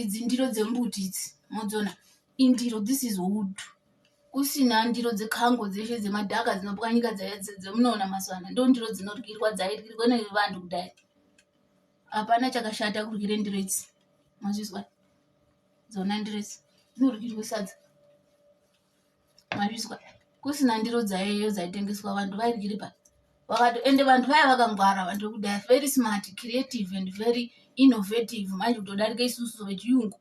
idzi ndiro dzembuti idzi modziona indiro this is wood kusina ndiro dzekango dzeshe dzemadhaka dzinopwanyika dzaya dzemunoona mazuva ano ndo ndiro dzinoryirwa dzairyirwa nevanhu kudai hapana chakashata kuryire ndiro idzi mazvizwa dzona ndiro idzi dzinoryirwe sadza mazvizwa kusina ndiro dzaiyeyo dzaitengeswa vantu vairyiri pa vakati ende vantu vaya vakangwara vantu vekudhaya very smart creative and very innovative manje kutodarika isusu vechiyungu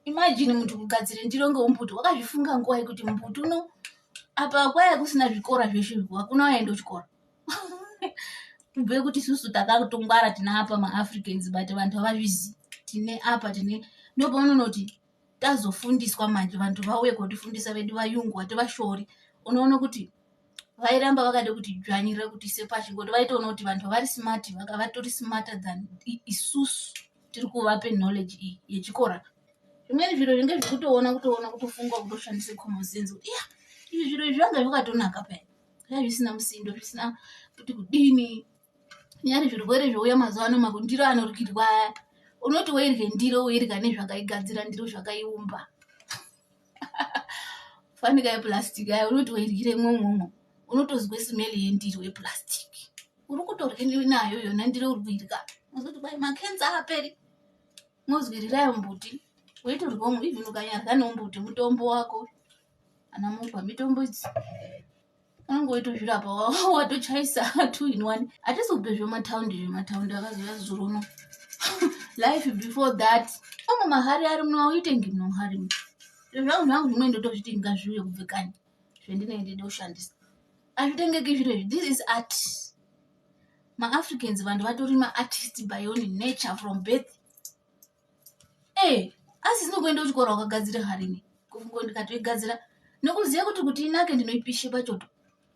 imajini muntu kugadzira ndiro ngeumbuti wakazvifunga nguva yekuti mbuti uno apa kwaya kusina zvikora zveshe hakuna waenda kuchikora kubve kuti isusu takatongwara tine apa maafricans but vantu havazvizivi tine apa tine ndopaunonoti tazofundiswa manje vantu vauye kotifundisa vedu vayungu vativashori unoona kuti vairamba vakada kuti dzvanyirira kuti ise pashi ngoti vaitoona kuti vanhu vari smart vatori smarter than isusu tiri kuvape knowledge iyi yechikora zvimweni zviro zvinge zvikutoona kutoona kutofunga kutoshandisa common sense kuti ya izvi zviro izvi zvanga zvakatonaka paya zvisina musindo zvisina kuti kudini nyari zvirwere zvouya mazuva ano makundiro anoryirwa aya unoti woirye ndiro woirya nezvakaigadzira ndiro zvakaiumba fanika yeplastic aya unoti woiryire mwomwomwo unotozwe smeli yendiro yeplastic uri kutorye nayo yona ndiro uri kuirya mozoti kwai makenza aperi mozwirirayo mbuti woitorwa even ukanyarya neumbuti mutombo wako ana mukwa mitombo idzi angoitozvirapa watochaisa two in one atisi kupe zvemataundi zvemataundi akazoya zuro uno life before that amwe mahari ari muno auitengi muno mahari mu zvangu zvangu zvimwe ndotozviti ngazviuye kubve kani zvendinenge ndida kushandisa azvitengeki zviro izvi this is art maafricans vanhu vatori maartist by own nature from birth ee asi zinokuenda kuchikoro wakagadzira harini kufungo ndikatoigadzira nokuziva kuti kuti inake ndinoipishe pachoto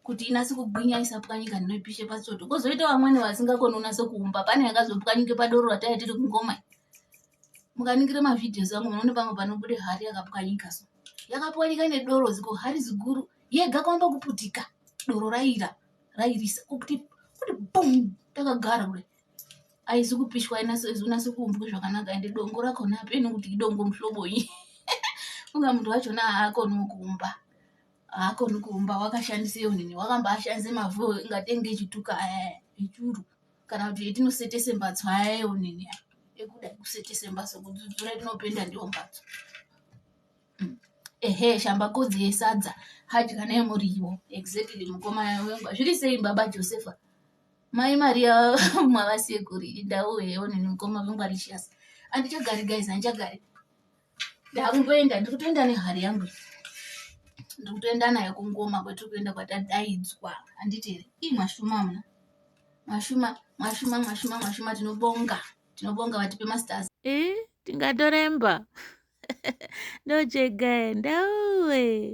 kuti inase kugwinya isapwanyika ndinoipishe pachoto kozoita vamwene vasingakoni unase kuumba pane yakazopwanyike padoro rataiya tiri kungoma mukaningire mavhidhios angu munoone pamwe panobude hari yakapwanyika so yakapwanyika nedoro ziko hari ziguru yega kwamba kuputika doro raira rairisa kuti kuti bum takagara kudai aizi kupishwa inase kuumbwa zvakanaka ende dongo rakona hapeni kuti idongo muhlobonyi funga munhu wachona haakoni kuumba haakoni kuumba wakashandisa iyo nini wakambaashandisa mavhu ingatenge echituka aya echuru kana kuti etinosetese mbatso aya iyo nini ekuda kusetese mbatso kudzudzura tinopenda ndiyo mbatso hmm. ehe shambakodzi yesadza hadya nemuriwo exactly mukoma wengu zviri sei baba josefa Mai Maria mwava sekuru indawo heyo nini mukoma vangu Alicious. Andichagari guys andichagari. Ndakungoenda ndiri kutoenda nehari yangu. Ndiri kutoenda nayo kungoma kwetiri kuenda kwatadaidzwa. Anditi here? Ii mwashuma mna. Mwashuma mwashuma mwashuma mwashuma tinobonga. Tinobonga vatipe masters. Eh tingatoremba. Ndochega ndawe.